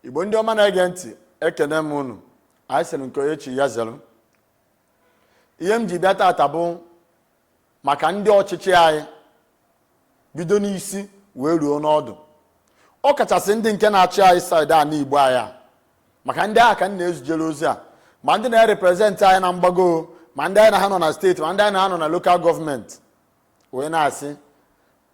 igbo ndị ọma na-ege ntị ekene m unu anyị sịrị nke onye chi ya zere ihe m ji bịa tata bụ maka ndị ọchịchị anyị bido n'isi wee ruo n'ọdụ ọ kachasị ndị nke na-achị anyị saịdị a n'igbo anyị a maka ndị ahụ ka m na-ezijere ozi a ma ndị na-ereprezentị anyị na mgbago ma ndị anyị na ha nọ na steeti ma ndị anyị na ha nọ na lokal gọọmenti wee na-asị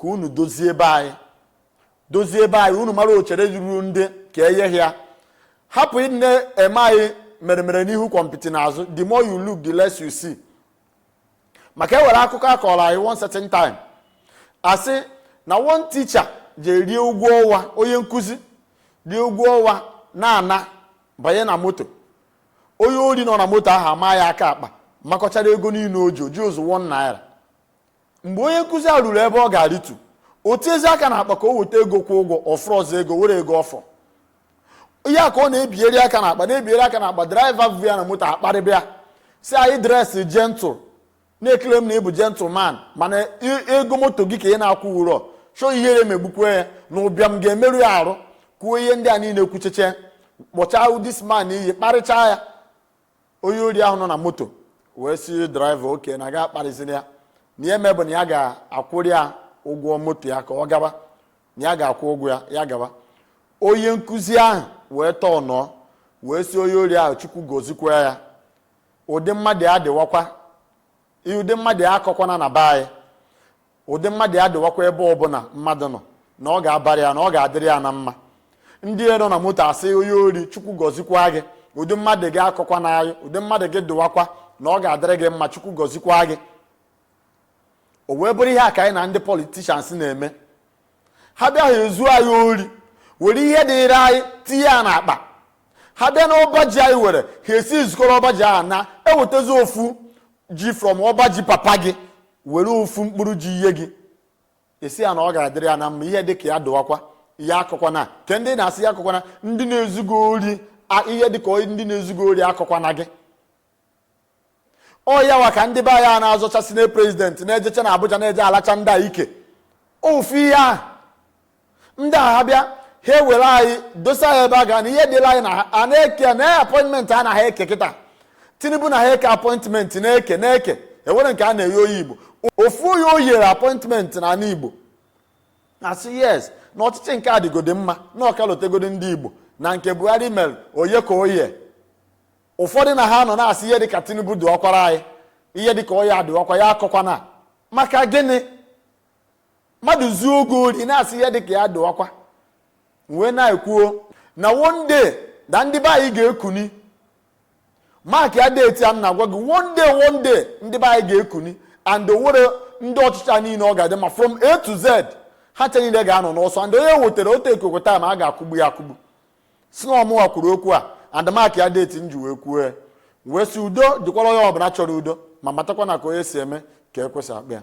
ka unu dozie ebe anyị dozie ebe anyị unu mara ochere ruru ndị ka enyeghị ya hapụ ịdị eme anyị mere mere n'ihu gwompiti n'azụ the more you look the less you see maka e were akụkọ a kọrọ anyị one certain time a sị na one teacher je rie ụgwọ ọnwa onye nkụzi rie ụgwọ ọnwa na-ana banye na moto onye ori nọ na moto ahụ ama ya aka akpa makọchara ego niile o ji o jirọzị one naira mgbe onye nkụzi a ruru ebe ọ ga-arịtu o tiezi aka na akpa ka o weta ego kwụọ ụgwọ ọ fụrọzị ego were ego ọ fọ ihe a ka ọ na-ebieri aka na akpa na-ebieri aka na akpa draiva bu ya na moto akparịba ya sị ya na ị dresị jentụl na-ekele m na ị bụ jentụl man mana ego moto gị ka ị na-akwụwurọ chọọ ihere megbukwe ya na ụbịam ga-emerụ ya arụ kwuo ihe ndị a niile kwucheche kpọchaa this man iyi kparịchaa ya onye ori ahụ nọ na moto wee sị draiva okay na gị akparịzina ya na ihe ya-eme bụ na ya ga-akwụrụ ya ụgwọ moto ya ka ọ gaba na ya ga-akwụ ụgwọ ya ya gaba onye nkụzi ahụ wee tọọ ọnụ wee sị onye ori ahụ chukwu gọzikwa ya ụdị mmadụ ya dịwakwa ụdị mmadụ ya akọkwana na be anyị ụdị mmadụ ya dịwakwa ebe ọbụla mmadụ nọ na ọ ga-abara ya na ọ ga-adịrị ya na mma ndị nọ na moto asị onye ori chukwu gọzikwa gị ụdị mmadụ gị akọkwana anyị ụdị mmadụ gị dịwakwa na ọ ga-adịrị gị mma chukwu gọzikwa gị o wee bụrụ ihe a ka anyị na ndị politicians na-eme ha bịa ha ezuo anyị ori were ihe dịịrị anyị tinye ya n'akpa ha bịa n'ọba ji anyị were ha esi zukọrọ ọba ji ahụ ha ewetazi ofu ji from ọba ji papa gị were ofu mkpụrụ ji ye gị ị sị ya na ọ ga-adịrị ya na mma ihe dị ka ya dụwakwa ya akọkwana kee ndị na-asị ya akọkwana ndị na-ezu gị ori ihe dị ka ndị na-ezu gị ori akọkwana gị ọ ya wa ka ndị be anyị na-azọcha senate prezidenti na-ejecha na Abuja na-eje alacha ndị a ike ofu ihe ahụ ndị a ha bịa ha ewere anyị dosa ya ebe a ga na ihe dịla anyị na a na-eke na apọịntmentị a na ha eke kịta tinubu na ha eke apọịntmentị na-eke na-eke e were nke a na-eye onye igbo ofu onye o yere apọịntmentị na ala igbo na-asị yes na ọchịchị nke adịgodi mma na ọ ka lotegodi ndị igbo na nke buhari mere onye ka onye ụfọdụ na ha nọ na-asị ihe dịka tinubu dịwakwara anyị ihe dịka ọ ya dịwakwa ya akọkwana maka gịnị mmadụ zuo gị ori ị na-asị ihe dịka ya dịwakwa wee na-ekwuo na one day na ndị be anyị ga-ekuni mark ya date a m na-agwa gị one day one day ndị be anyị ga-ekuni and o were ndị ọchịchị niile ọ ga-adị ma from a to z ha ncha niile ga-anọ n'ọsọ and onye wetara otu ekoko taa ma a ga-akụgbu ya akụgbu sị na ọ mụwa kwuru okwu a and mark ya date m ji wee kwuo ya wee sị udo dịkwara onye ọbụla chọrọ udo ma matakwa na ka onye si eme ka ekwe si akpọ ya